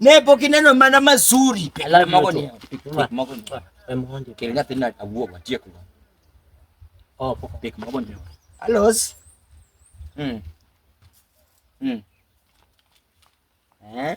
Nepo kineno mana mazuri. Alos. Mm. Mm. Eh?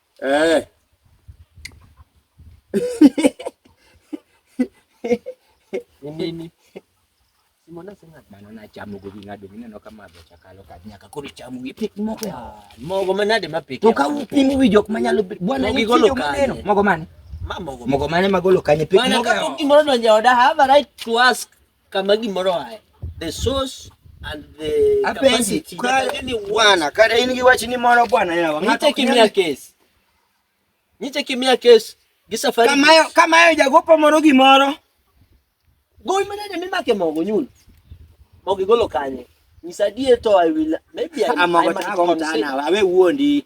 เออ Ni nini? Simona sina bana na chamu go binga do nina ka ma cha kalo ka nyaka ko chamu gi pik mo ya. Mo go mana de ma pik. To ka upingu wi jok manyalo bwana ni golo ka. Mo go mane? Ma mo go. Mo go mane ma golo ka ni pik mo ga. Bwana ka ko kimoro donja oda have a right to ask. kama gimoro aye the source and the Apenzi, capacity kwa- that any one- bwana kata in gi wach ni moro bwana yawa Ng'ato nyiche ok kimia nyal- kes nyiche kimia kes gi safari kamayo kamayo jagopo moro gimoro gowi manade mimake mogo nyulo mogo igolo kanye nyisa adier to i will maybe I- I amogo might tago mtana consider- awe wuondi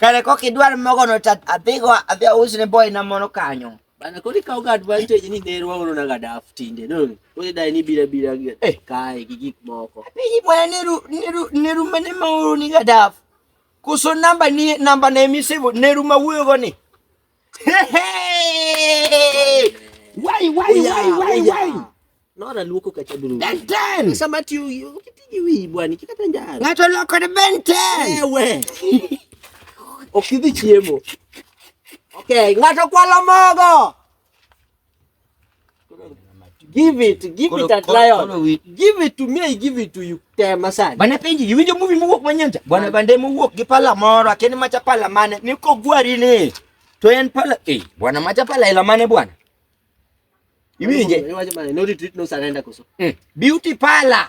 Kare kok idwar mogo no ta adhigo adhi ausi ne boy na mono kanyo. Bana kodi kaw ga advantage ni ne ruwa uno naga daf tinde no. Kodi dai ni bira bira gi eh kai gi gik moko. Piji mwana ne ru ne ru ne ru mane ma uru ni ga daf. Kuso namba ni namba ne mi sebo ne ru ma wuyo go ni. Why, why, oh, why, oh, why, why? Nora luoko kacha dulu. Ben 10. Sama ti ukitiji wi bwani kikata njara. Ngato loko na Ben 10. Ewe. Okidhi chiemo. Okay, ngato kwalo mogo. Give it, give it at lion. Give it to me, I give it to you. Te masani. Bana penji, you winjo movie muwuok manyanja. Bwana bande muwuok gi pala moro, akeni macha pala mane, niko gwari ni. To en pala, eh, bwana macha pala ila mane bwana. Iwinje. No retreat, no surrender koso. Mm. Beauty pala.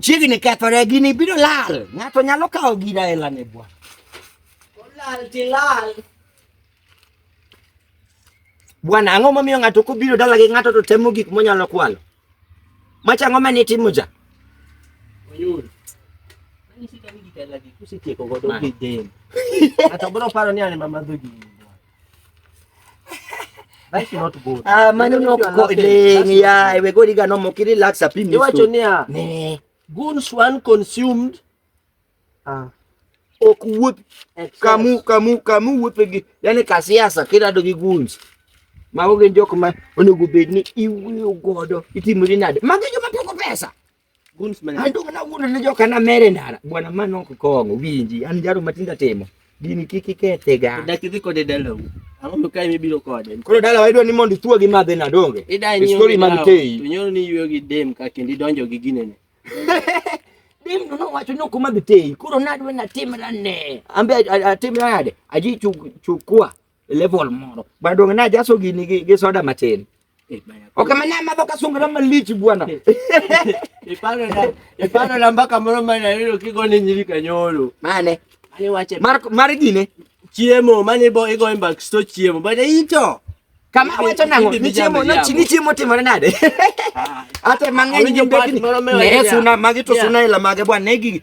Chiegni kethore gini biro lal. Ng'ato nyalo kawo gina e lane bwa. Olal ti lal. Bwana, ang'o momiyo ng'ato kobiro dala gi ng'ato to temo gik monyalo kwalo? Macha ang'o mane itimo ja? Oyul. Mani sita ni gikala gi kusitieko godo gidem. Ng'ato biro paro ni an ema madho gini. That should not go. Ah, man, you know, go ling, yeah, we go diga no mo kiri lax api miso. Iwa chonia. Ne. Guns one consumed. Ah. Ok wup. Kamu, kamu, kamu wup gi. Yani kasiasa kira dogi guns. Mago gin jok ma onego bed ni iwuyo godo itimori nade. Magi joma poko pesa. andugna wuono ne joka na mere ndara bwana mano ok kong'o winji an jaro matindo timo gini kik ikethega dak idhi kode dalau ang'o mikae mibiro kode koro dala waidwa ni mondo ithuo gi madhe na donge istori mag teyi to nyoro ni yweyo gi dem ka kendo idonjo gi ginene dem no nowacho ni ok omadh teyi koro nadwa natimra ne ambe atimra nade aji chukua e level moro bana donge najaso gini gi, gi soda matin Eh, bana. ok ma namadho kasungra malich bwana Iparo na iparo na mbaka moro mane ayudo kigone nyiri kanyoro. mane Mane wache mar, mar gine chiemo mane ibo igo e mbak sto chiemo. Bana ito. kama Ibi- wacho nango ibi ni chiemo bijambe nochi jambo. ni chiemo timore nade Ah, ate mang'eny Awinjo gi mbekni part moro mewa ne niya, suna magi to niya. suna ila mage bwana ne gi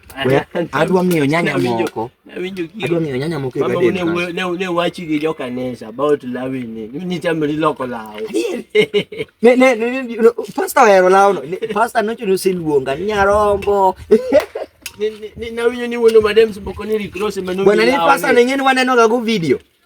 adwa miyo nyanya moko adwa miyo nyanya moko e garden ne ne wachi gi joka nesa about lawing ni ni chamo ni loko lawo ne ne pastor ero lawo no pastor no chuno siluonga ni nyarombo ni na winyo ni wono madem siboko ni rikro se manu bwana ni pastor ne ngene waneno ga go video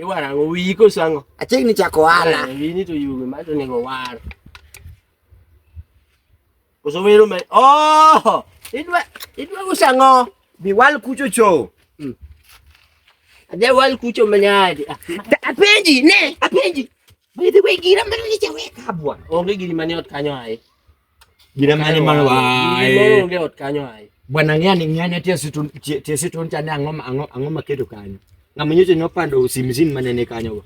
Iwar ang'o wiyi koso ang'o? Achiegni chako ohala. Eh, Wiyi ni to yugi ma to onego war. Koso wero me. Oh! Idwa idwa uso ang'o? Bi wal kucho cho. Hmm. Adhi wal kucho manyadi. Ah, apenji ne, apenji. By the way, gira mane ni chaweka bwana. Onge giri mane ot kanyo aye. Gire mane mar wae. Onge ot kanyo ai. Bwana ng'e ni ng'e ne tiesi tun tiesi tun chane ang'o ang'o ang'o maketo kanyo. Ng'ama nyocha nyopando usimzin mane ne kanyo go.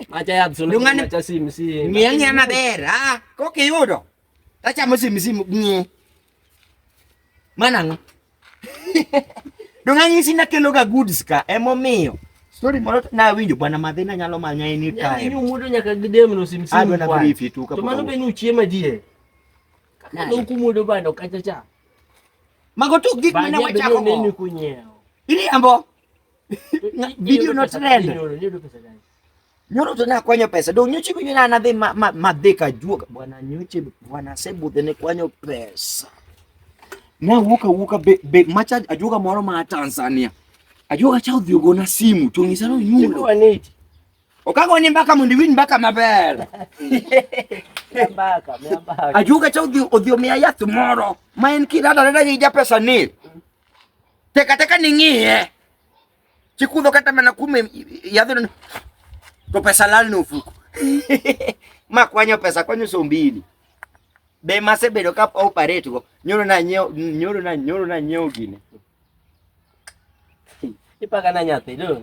Macha ya absolute macha simsi. Ng'e ng'e maber. Ah, kokiyudo. Tachamo simsi ng'e. Mano ang'o? Donge anyisi nakeloga goods ka emomiyo story moro nawinjo bwana madhi nanyalo manya any time. Yaani yuu mudo nyaka gidem no simsimu kwa. Adwa na brief tu kapok. To mano be ni uchiema die. Kaka no kumudo bando kacha cha. Mago tu gik mane wachako go. Ini ambo. Video no trend. Ni do pesa gani? Nyoro to nakwanyo pesa. Dong nyoche winyo na nadhi ma, ma, ma dhi ka juoga. Bwana nyoche bwana sebudhe ne kwanyo pesa. Na wuka wuka be, be macha ajuoga moro ma Tanzania. Ajuoga cha odhi ogona simu to ngisa no nyulo. Okago ni mbaka mondo iwin mbaka maber. Mbaka, mbaka. Ajuoga cha odhi odhi omiya yath moro ma en kirada rada gi ja pesa ni. Teka teka ni ng'iye. Chikudho kata mana kume yadhno to pesa lal no fuko. Ma kwanyo pesa kwanyo so mbili. Be mase bedo ka operate go. Nyoro na nyeo nyoro na nyoro na nyeo gine. Ipaga na nyathi leo.